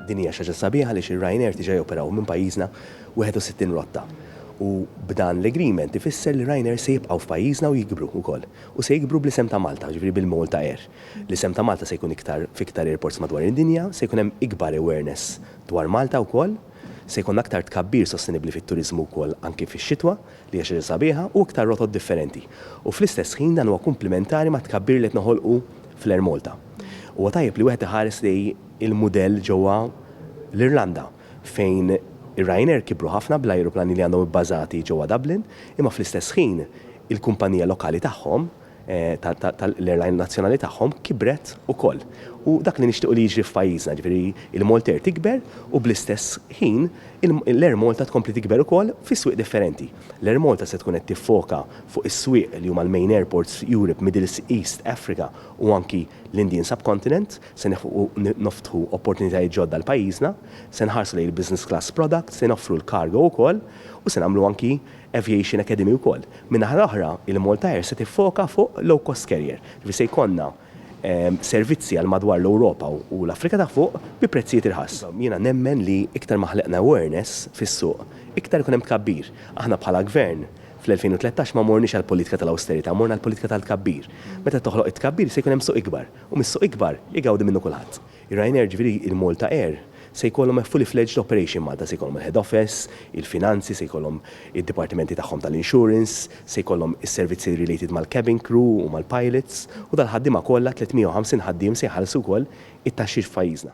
Din hija xi ħaġa sabiħa għaliex ir-Ryanair diġà joperaw minn pajjiżna 61 rotta u b'dan l-agreement ifisser li Ryanair se jibqgħu f'pajjiżna u jikbru wkoll. U se jikbru bl-isem ta' Malta, jiġifieri bil-Malta Air. L-isem ta' Malta se jkun iktar f'iktar airports madwar id-dinja, se jkun hemm ikbar awareness dwar Malta wkoll, se jkollna aktar tkabbir sostenibbli fit-turiżmu wkoll anki fix-xitwa. li hija xi ħaġa sabiħa, u iktar rotot differenti, u fl-istess ħin dan huwa kumplimentari mat-tkabbir li qed noħolqu fl-Air Malta. Huwa tajjeb li wieħed iħares lejn il-mudell ġewwa l-Irlanda fejn ir-Ryanair kibru ħafna bl-ajruplani li għandhom ibbażati ġewwa Dublin, imma fl-istess ħin il-kumpanija lokali tagħhom, tal-airline nazzjonali tagħhom kibret ukoll. U dak li nixtiequ li jiġri f'pajjiżna, jiġifieri l-Maltair tikber u bl-istess ħin l-Air Malta tkompli tikber ukoll fi swieq differenti. L-Air Malta se tkun qed tiffoka fuq is-swieq li huma l-main airports f'Europe, Middle East, Africa u anki l-Indian Subcontinent. Se neħfqu noftħu opportunitajiet ġodda għal pajjiżna. Se nħarsu lejn il-business class product, se noffru l-cargo ukoll u se nagħmlu anki Aviation Academy wkoll. Min-naħa l-oħra, il-Malta Air se tiffoka fuq low-cost carrier, ġifieri se jkollna servizzi għal madwar l-Ewropa u l-Afrika ta' Fuq bi prezzijiet irħas. Jiena nemmen li iktar ma ħlaqna awareness fis-suq, iktar ikun hemm tkabbir. Aħna bħala Gvern fl-2013 ma morniex għall-politika tal-awsterità, morna għall-politika tal-tkabbir. Meta toħloq it-tkabbir se jkun hemm suq ikbar u mis-suq ikbar igawdi minnu kulħadd. Ryanair, jiġifieri il-Malta Air, se jkollhom a fully fledged operation Malta, se jkollhom il-head office, il-finanzi, se jkollhom id-dipartimenti tagħhom tal-insurance, se jkollhom is-servizzi related mal-cabin crew u mal-pilots, u dal-ħaddiema kollha, 350 ħaddiem, se jħallsu wkoll it-taxxi f'pajjiżna.